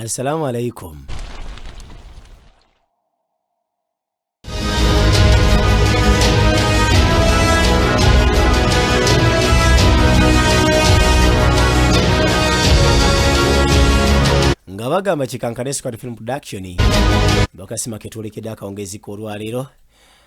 Assalamu alaikum. nga bagamba kikankane squad film production bakasima ketwolekedde akawungeezi k'olwaleero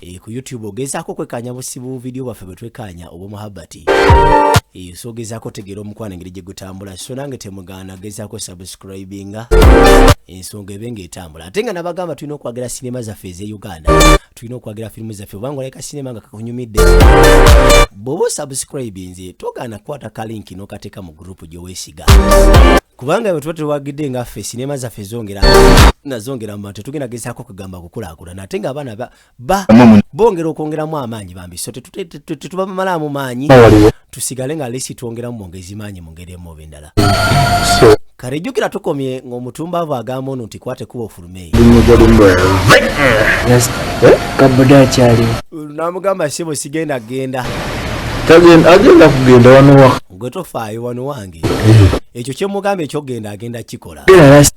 Eh, ku youtube ogezaako kwekaanya busibu vidiyo bwaffe bwe twekaanya obwomuhabbati eh, so ogezaako otegeera omukwano engeri gye gutambula so nange temugaana gezaako subscribinga ensonga ebe ngaetambula ate nga nabagamba tulina okwagira sinema zaffe eze uganda tulina okwagira firimu zaffe obanga oleka sinema nga kakunyumidde bwoba osubscribinze togaana kukwata kalinki nokateeka mu gurupu gyewesiga kubanga bwe tuba tewagidde nga ffe sinema zaffe zongera nazongera mu bantu tugenda gezaako kugamba kukulaakulana ate nga abaana bongera okwongeramu amaanyi bambi so tetubamalaamu maanyi tusigale nga lesi twongeramu mwongezi maanyi mu ngeri emuoba endala kale jjukira tukomye ng'omutumbaavu agamba ono nti kwate kuba ofulumeeyo namugamba sibo sigenda genda agenda kugenda wanowa gwe tofaayo wano wange ekyo kyemugamba ekyogenda agenda kikola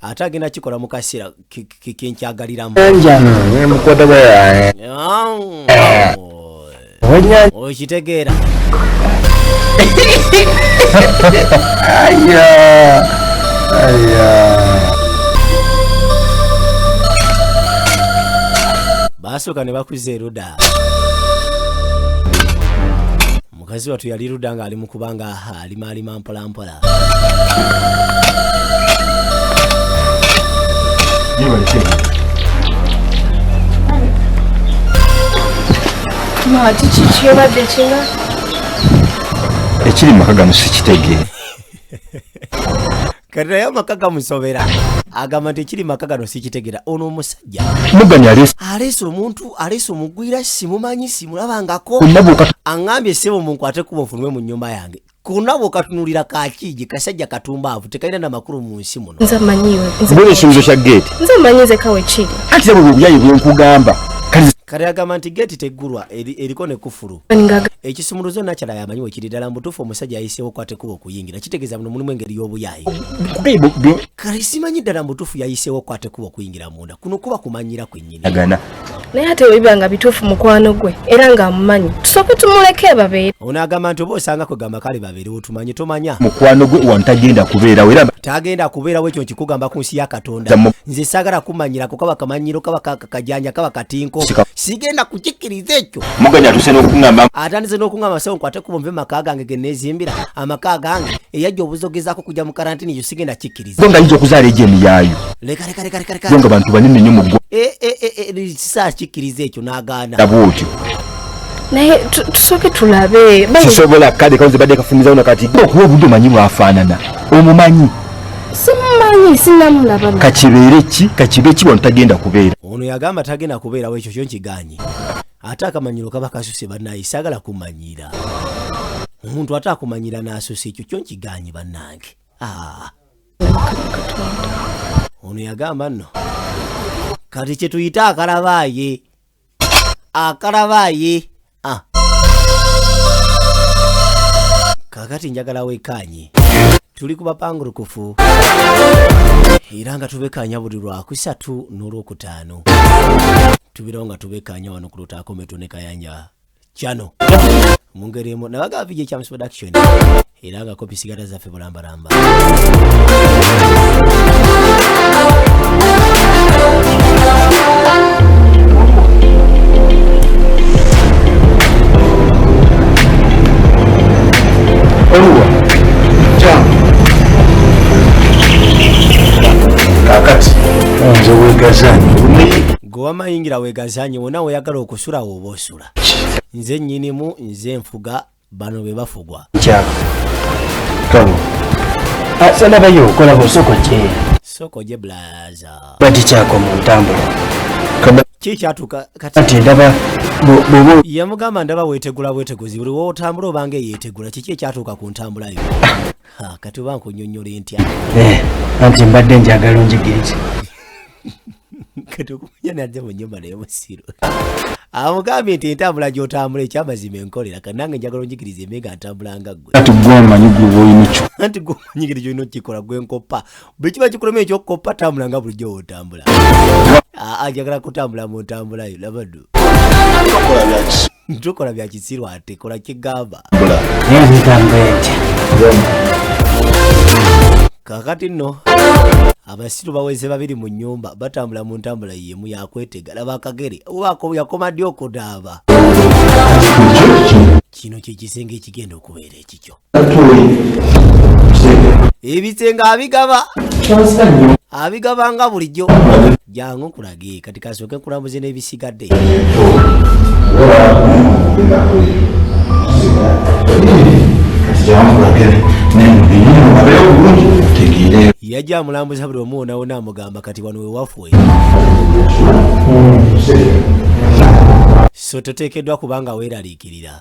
ate agenda kikola mu kaseera kenkyagaliramu okitegeera basooka ne bakuza eruda mukazi watu yali luda nga ali mukuba nga aha alima alima mpola mpola ekiri maka gano sikitegeera kati naye amaka gamusobera agamba nti ekiri maka gano sikitegera ono omusajja aleese omuntu aleese omugwira simumanyi simulabangako aŋambye sebo munkwate kuba ofunwe mu nyumba yange kona bwokatunulira kakiji kasajja katumbaavu tekalina namakulu mu nsi muno ekisuubizo kya geeti nze manyi nze kawe kiri ati bwe buyayi bwenkugamba kati agamba nti geeti teggulwa eriko ne kufulu ekisumuluzo nakyala yamanyi wekiri ddala mubutuufu omusajja yayiseewo kwatekuba okuyingira kitegeeza muno mulimu engeri y'obuyaayi kati simanyi ddala mubutuufu yayiseewo kwatekuba okuyingira munda kuno kuba kumanyira kwennyini naye ate webiba nga bituufu mukwano gwe era nga amumanyi tusooke tumuleke babeere ono agamba nti oba osanga kwe gamba kale babeerewo tumanye tomanya mukwano gwe wanu tagenda kubeerawo era tagenda kubeerawo ekyo nkikugamba ku nsi ya katonda nze saagala kumanyira kukaba kamanyiro kaba akajanja kaba katinko sigenda kukikiriza ekyo muganya atuse n'okungamba atandise n'okungamba sewo nkwate kubo nve maka gange ge neezimbira amaka gange eyajja obuzogezaako kujja mu karantini ekyo sigenda kikiriza go ngayinza okuzaala egyo emiyaayo leka leka leka leka leka go nga bantu banene nnyo mu ggwa eh, eh, eh, kisaa kikiriza ekyo n'agaana laba otyo naye tusooke tulabe sisobola kale kawo ze badde kafumizawo nakati okuwa obudde omanyi bwafaanana omumanyi simumanyi sinamulaba kakibeere ki kakibe ki wano tagenda kubeera ono yagamba tagenda kubeerawo ekyo kyo nkiganye ate akamanyiro kaba kasuse banaye sagala kumanyira omuntu ate akumanyira n'asuse ekyo kyo nkiganye banange ah. ono yagamba nno kati kyetuyita akalabaaye akalabaayi ah. kakati njagala wekaanye tuli ku bapangurukufu era nga tubekaanya buli lwakusatu n'olwokutaano tubeerawo nga tubekaanya wano ku lutaakometonekayanja channel mu ngeri emu nabaga vijay chams production era nga kopi sigala zaffe bulambalamba gwe wamayingira wegazanye wona weyagala okusulawo oba okusula nze nyinimu nze nfuga bano be bafugwa salabayo okola bosoko kye soko gye blaza bati kyako mu ntambula kikyatuka kati ndaba yamugamba ndaba wetegula bweteguzi buli wotambula obanga eyetegula kiki ekyatuuka ku ntambula yo ah. kati oba nkunyonyola entya eh, anti mbadde njagala onjigiriza kati okumanya nadde mu nyumba naye musiru amugambye nti entambula gyotambula ekyamazima enkolera kati nange njagala onjigiriza eme nga ntambula nga gwe anti gwomanyi gwoboyinakyo anti gwomanyi kiri kyolina okukikola gwe nkoppa bwe kiba kikuloma ekyokukoppa tambula nga bulijjo wotambula aa njagala kutambula mu ntambulayo labaddu ntukola bya kisiru ate kola kigamba kakati nno abasiru baweze babiri mu nyumba batambula mu ntambula yemu yakwetega laba akagere yakoma ddi okudaaba kino kyekisenge ekigenda okubeera ekikyo ebisenge abigaba abigaba nga bulijjo jangu nkulage kati kasooke kulamuze n'ebisigadde yajja amulambuza buli omu wonawona amugamba kati wano wewafwe so toteekeddwa kubanga weeraliikirira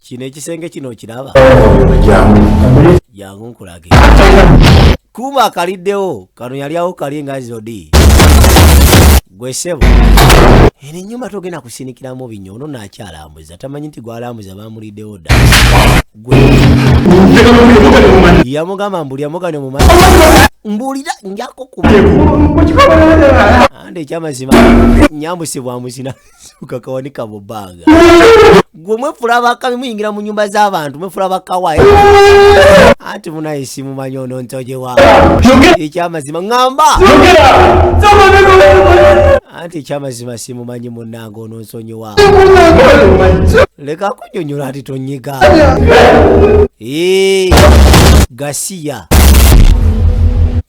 kino ekisenge kino okiraba jangu nkulage kuuma akaliddewo kano yali awo kali nga zodi gwe sebo eno enyumba togenda kusinikiramu binyo ono nakyalambuza tamanyi nti gwalambuza bamuliddewo dda gwe yamugamba mbuli amugane mumanyi mbulira njako kuba ande ekyamazima nyambusibwa muzina kakawa ni kabobaga gwe mwefula abakabi muyingira mu nyumba z'abantu mwefula bakawa eh? anti munayisi mumanyi ono ntojewa ekyamazima ŋamba anti ekyamazima simumanyi munanga ono nsonyiwa leka kunyonyola ati tonyiga eh, gasiya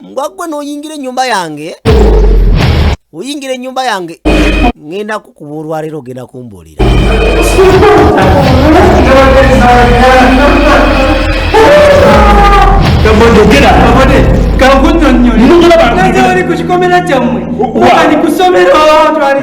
mbwa gwe noyingira enyumba yange oyingira enyumba yange ngenda kukuba olwaleero ogenda kumbuulira kakunyonyoleoli kukikomera kyammwe ali kusomero twali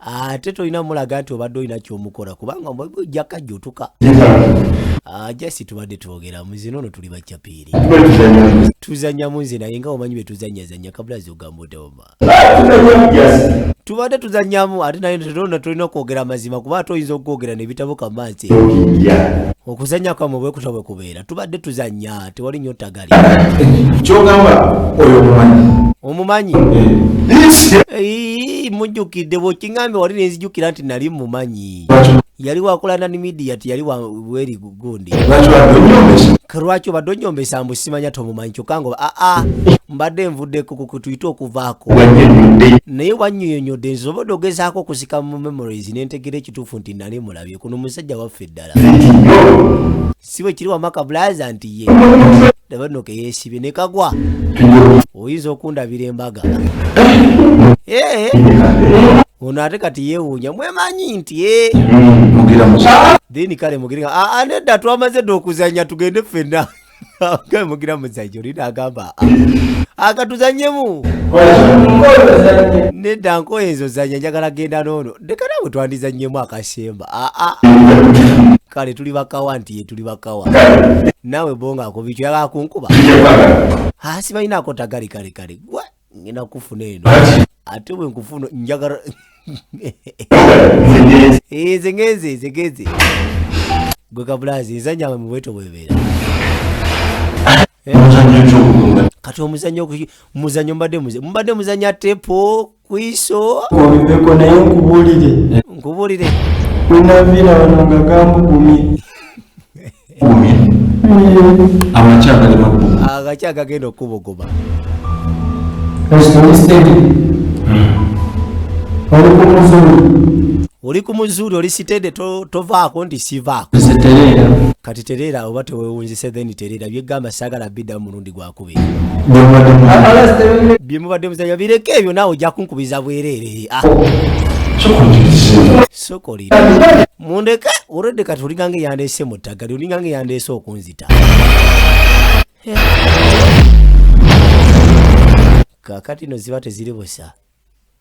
ate tolina mulaga nti obadde olina kyomukola kubanga ojjaka jotuka ah, jasi tubadde twogera muzina ono tuli bacapiiri tuzanyamu nze naye nga omanyi betuzanyazanya kabulazi ogamba otaoma tubadde tuzanyamu ate naye tetona tolina okwogera amazima kuba ate oyinza okwogera nebitabo kamansi okuzanya kwamwe bwekuta bwekubeera tubadde tuzanya tewali nyo tagali kyogamba oyo omumanyi omumanyi eh. mujjukidde bwokingambye wali nenzijukira nti nali mumanyi yali wakola nani midia ti yali weri gundi lwaki obadde onyombesa mbu simanya tomumanyi kyokka nga aa ah, ah, mbadde nvuddeko kukutuyite okuvaako naye wanyoyonyodde nsobodde ogezaako okusika mu memories nentegera ekituufu nti nali mulabye kuno musajja waffe ddala si bwe kiri wamaka bulaza nti ye ndaba nno keyesibye ne kagwa oyinza okundabira embaga ee ono ate kati yeewuunya mwemanyi nti ee then kale mugirga aa nedda twamaze dda okuzanya tugende ffenna kale mugira muzanyi oli nagamba akatuzanyemu nedda nkoye ezo zanya njagala genda noono leka naawe twandizannyemu akasemba aa ah, ah. kale tuli bakawa nti ye tuli bakawa naawe bonga akubikyo yagala kunkuba hasi ah, balina akotagali kale kale gwa ngenda kufuna eno ate bwe nkufuna njagala eh, zengenze zengenze gwe kabulazi nzanyawe mu bweto bwebeera eh? kati omuzanyo muzanyo mbadde muzanyo mbadde muzanya tepo kwiso obiveko naye nkubulire nkubulire wenaviira wano nga gambugumye agaki agagenda okubuguma oli ku muzuuli oli sitede tovaako nti sivaako kati tereera oba tewewunzise then tereera byegamba sagala bidda mu mulundi gwa bye mubadde muzanya bireke ebyo naawe ojja kunkubiza bwereere ah. sokolira mundeke olwedde kati olingange yandeese mu ttaggali olingange yandeese okunzita kakati no ziba teziri busa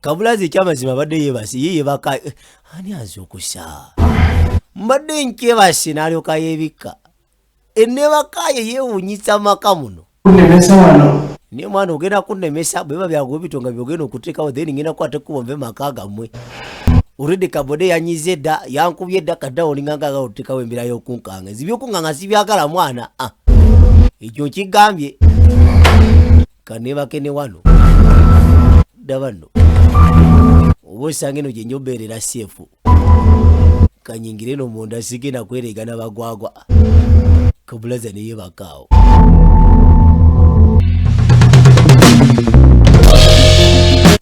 kabulazi ekyamazima abadde yebase ye yebaka eh, ani azukusa mbadde nkyebase nalyoka yebikka enebakaye yewunyisa maka muno naye mwana ogenda kunemesa bweba byago bitonga byogenda okutekawo then ngenda kukwata ekkubo nve maka gamwe oredi kabode yanyize dda yankubye dda kadda olingangaaga otekawo embeera yokunkanga ezibyokunkanga sibyagala mwana ah. ekyo nkigambye kanebake ne wano daba nno oba osanga eno gyenja obeerera seefu kanyingire no munda sigenda kwereega na bagwagwa kabulaza neye bakaawo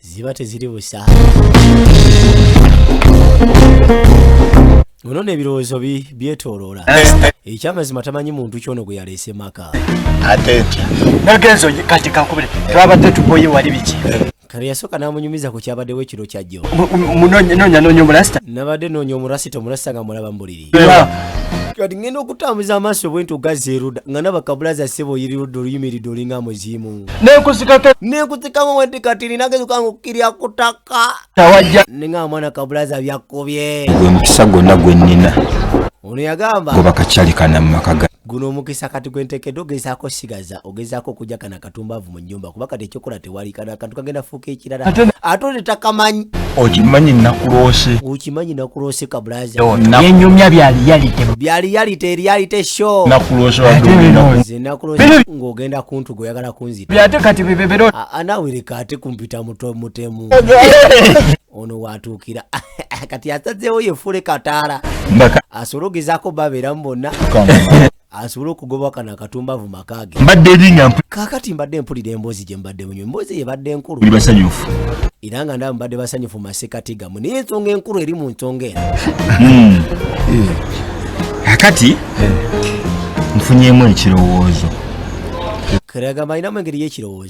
ziba teziri busa ono n'ebirowoozo bi- byetooloola ekyamazima tamanyi muntu kyono gwe yaleese maka ate ntya nagenzo kati kankubire twabadde tuboye wali biki kano yasooka n'amunyumiza ku kyabaddewo ekiro kyajjo munonyanoonya omurasita nabadde noonya omurasita omurasita nga mulaba mbuliri kati ngenda okutambuza amaaso bwe nti ogazza eruda nga naba kabulaza ssebo oyiriruda oluyimiridde olinga muziimu nenkuzikamu wenti kati nina gezuka nga okukirya ku ttaka ne nga amwana kabulaza byakkubye gwe mukisa gwonna gwe nnina ono yagamba goba kakyali kana mu maka ga Guno omukisa kati gwentekedde ogezaako osigaza ogezaako okujja kana katumbaavu mu nyumba kuba kati ekyokola tewali kana akantu kagenda fuuka ekirala ate one takamanyi okimanyi nakuloose okimanyi nakuloose kabulazayenyumya byaliyalite byaliyalite eriyalite sho nakuloose ng'ogenda kuntu gweoyagala kunzita ate kati bibebero anawirika ate kumpita mutwe mutemu ono watuukira kati asazeewo yefuule kataala asobole ogezaako babeeramu bonna asobole okugoba kano akatumbavu makaage kakati mbadde mpulira emboozi gye mbadde munyo emboozi eyo ebadde enkulu era nga ndaba mbadde basanyufu masekati gamu naye ensonga enkulu eri mu nsonga eno hmm. akati nfunyemu ekirowoozo kiraga malinamu engeri y'ekirowoozo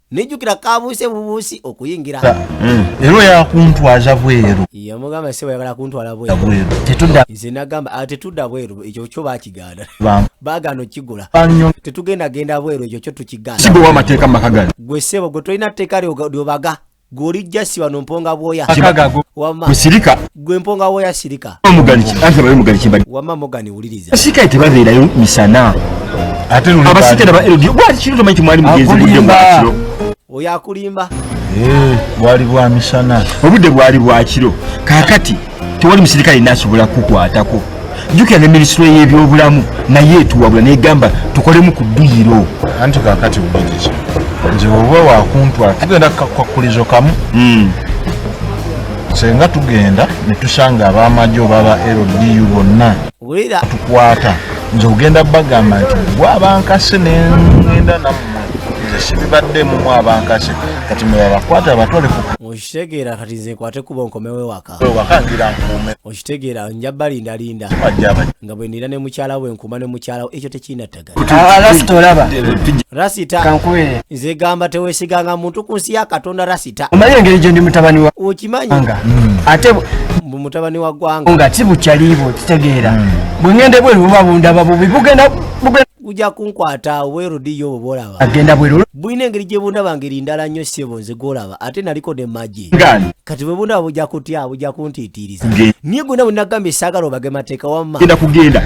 nijjukira kabuuse bubuusi okuyingira hmm. era oyakuntwaza bweru yamugamba sebo yagala kuntwala bwerunze nagamba ah, tetudda bweru ekyo kyo bakigaana bagaana okigula tetugenda genda bweru ekyo kyo tukigaanawamateeka maka gano gwe sebo gwe tolina tteeka lyobaga gweolijja siba nomponga bwoya wama gwe mponga woya sirika wama mogani wuliriza basirikale tebabeerayo misana abasirikale ba ldi bwali kiro tomanyi kimwali mugenzi budde bwakiro oyo akulimba eh, bwali bwa misana obudde bwali bwakiro kakati tewali musirikale nasobola kukwatako jjukira ne minisitule y'ebyobulamu naye etuwabula negamba tukolemu ku dduyiro anti kakati bugiriki nze oba wakuntwala tugenda kukakkulizo kamu hmm. senga tugenda netusanga abamagye obaba ldu bonna tukwata nze ogenda bagamba nti gwe abankase nengenda namu sibibaddemu mu abankase kati mwebabakwata abatwale kukitegeera kati nze nkwate kuba onkomewo ewaka okitegeera nja balinda linda nga bwe nira ne mukyala we nkuuma ne mukyala ekyo tekirina ddagala rasita nze gamba tewesiganga muntu ku nsi ya katonda rasita omanyi engeri gye ndi mutabani wa okimanyi hmm. ate mbu mutabani wa ggwanga nga si bukyaliibwo okitegeera hmm. bwe ngende bweru buba bundaba bubi bugenda guja kunkwata obweru diyo obwo bwolaba agenda bweru bulina engeri gye bundaba ngeri ndala nnyo ssebo nze gwolaba ate naliko ne magi kati bwe bundaba buja kutya buja kuntiitiiriza niye gwena bwe nagambye saagala obage mateeka wamma genda kugenda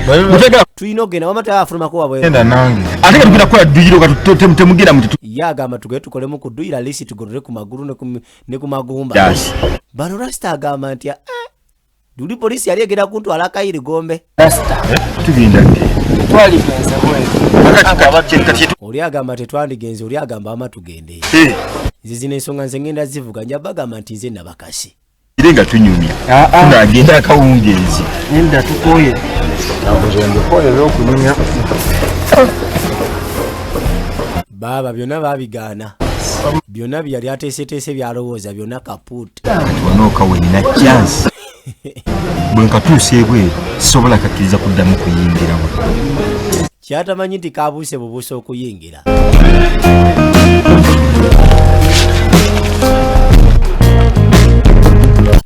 tulina okugenda wamma tayaba afulumako wabwegenda nange ate nga tugenda kukola dduyiro katemugenda muti ye agamba tugende tukolemu ku dduyiro alisi tugolole ku magulu ne ku magumba bano rasita agamba nti ah, Duli polisi yali egenda kuntwala akayiri gombe oli agamba tetwandigenze oli agamba ama tugende nze zino ensonga nze ngenda zivuga nja bagamba nti nze nabakasi ire nga tunyumya ah, ah. ng'agenda akawungeezi enda tukoye baaba byonna babigaana byonna byeyali ateeseteese byalowooza byonna kapuutu onooka wenina chance bwe nkatuusa ebweru sisobola kakkiriza kuddamu kuyingiramu kyatamanyi nti kabuuse bubuusa okuyingira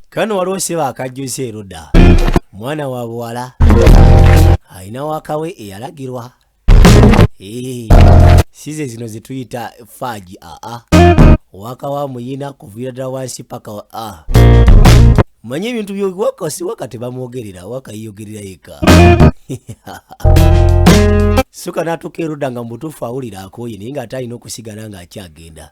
kano waliwo siba akajjusa eruda mwana wa buwala alina wakawe eyalagirwa Hey, eh, size zino zituyita faji aa ah, ah. waka wa muyina kuviira ddala wansi paka a ah. manyi ebintu byowaka si waka tebamwogerera waka yiyogerera yeka suka natuuka erudda nga mubutuufu awulira akooye naye nga ate alina okusigala nga akyagenda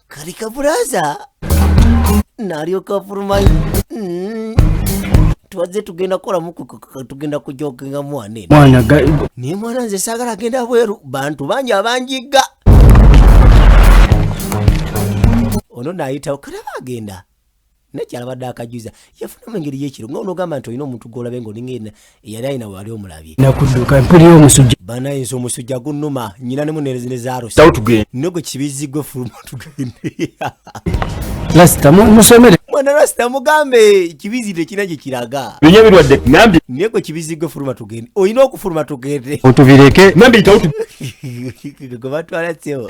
kali kaburaza nalyoka afulumayo Mm. twazze tugenda kukolamu ku- ku- ku- tugenda kujokinga mwana eno mwana ga- naye mwana nze saagala agenda bweru bantu bangi abanjigga ono naayitawo kalaba agenda naye kyalabadde akajuza yafuna mu ngeri yekiro nga onogamba nti olina omuntu gwolabe nga olinga ena eyali alina wali omulabye nakudduka mpulira omusujja banaye nze omusujja gunnuma nyina ne munerezi ne zarosi ne gwe kibizzi gwe fuluma tugende lasita musomere mwana lasita mugambe kibizzi tekina gye kiraga binya birwadde nambi naye gwe kibizzi gwe fuluma tugende olina okufuluma tugende otubireke nambi tawutu gwe batwala sebo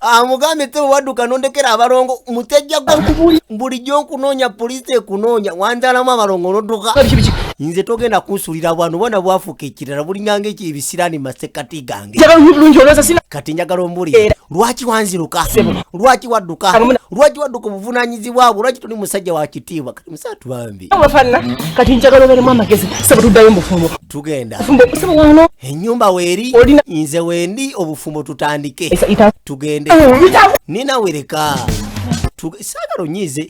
amugambye tebe wadduka nondekera abalongo mutejja bulijjo nkunoonya poliisi ekunoonya wanzalamu abalongo nodduka nze togenda kunsulira bwano bwana bwafuuka ekirala bulinganga ekyo ebisiraani masekati gange kati njagala ombulire lwaki wanziruka lwaki wadduka lwaki wadduka obuvunanyizibwabwo lwaki tuli musajja wa kitiibwa musatu bambi wafana kati njagala oberemu amagezi saba tuddayo mubufumbo tugenda saba wano enyumba weeri nze wendi obufumbo tutandike tugende nina wereka saagala onyiize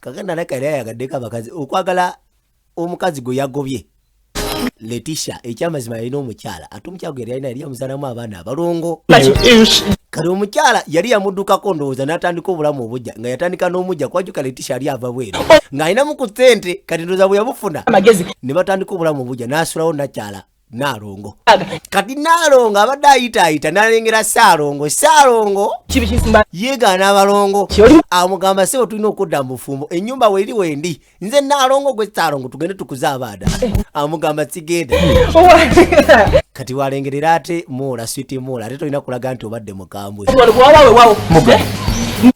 kaganda naye kali ayagadde kabakazi okwagala omukazi gwe yagobye letisha ekyamazima yalina omukyala ate omukyala gwe yalina yali yamuzalamu abaana abalongo kale omukyala yali yamuddukako ndowooza n'atandika obulamu obujja nga yatandika n'omujja kwajuka letisha yali ava bweru ng'alinamu ku ssente kati ndowooza bwe yabufuna ne batandika obulamu obujja n'asulawo nakyala nalongo kati nalongo abadde ayitaayita nalengera saalongo saalongo yegaana abalongo amugamba sebo tulina okudda mu bufumbo enyumba weeri wendi nze naalongo gwe saalongo tugende tukuze abaana eh. amugamba sigenda kati walengerera ate moola switi moola ate tolina kulaga nti obadde mukambwe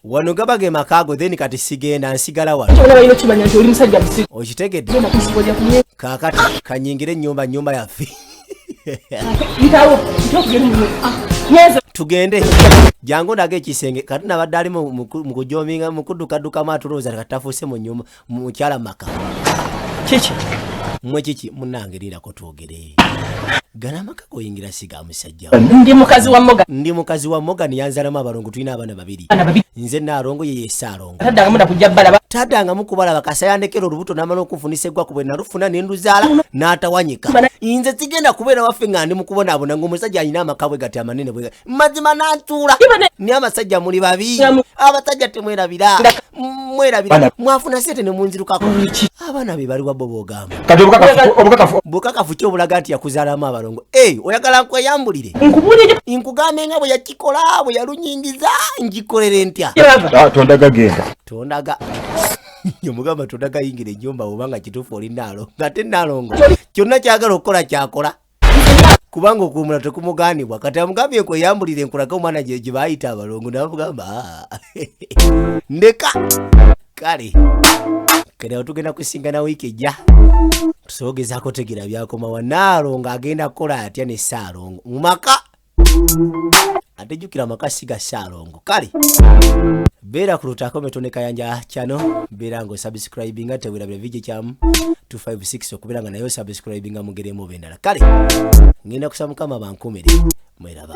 wano gaba ge makaago then kati sigenda nsigala wanokitegedde kakati kanyingire ennyumba nyumba yaffe tugende jangu ndaga ekisenge kati nabadde ali mukujominga mukudukadukamu atulowooza katafuuse munyuma mukyala maka kiki mwe kiki munange lirako twogere gana amaka goyingira siga musajja ndi mukazi wa moga ndi mukazi wa moga niyanzalamu abalongo tulina abaana babiri nze naalongo yeyesaalo taddangamu nakujja balaba taddangamu kubalaba kasayandekera olubuto namala okufunisa eggwaku bwe nalufuna ne nduzaala n'atawanyika nze sigenda kubeera waffe nga ndi mukubonaabona ngaomusajja alina amaka bwe gati amanene bwe mazima nantuula naye abasajja muli babi abasajja temwerabira mwerabira mwafuna sente ne munzirukako abaana be baliwa bo bogamba bukakafu ki obulaga nti yakuzaalamu abalongo oyagala nkweyambulire nkugambe nga bwe nagikola bwe yalunyingiza ngikolere ntya ah, tondaga genda tondaga omugamba tondaga yingira enyumba oba nga kituufu oli naalo ngate naalongo kyonna kyagala okukola kyakola kubanga okuwumula tekumugaanibwa kati amugambye nkweyambulire nkulaga omwana gye gye baayita abalongo namugamba ah. ndeka kale kati awo tugenda kusingana wiiki ejja tusobogezako tegera byakomawa naalongo agenda kukola atya ne saalongo mu maka ate jukira amaka siga saalongo kale beera ku lutaako metone kayanja kyano beera nga osubscribinga tewerabira vidio kyamu 256 okubeera nga naye osubscribinga mugeremu oba endala kale ngenda kusaba mukama bankumire mweraba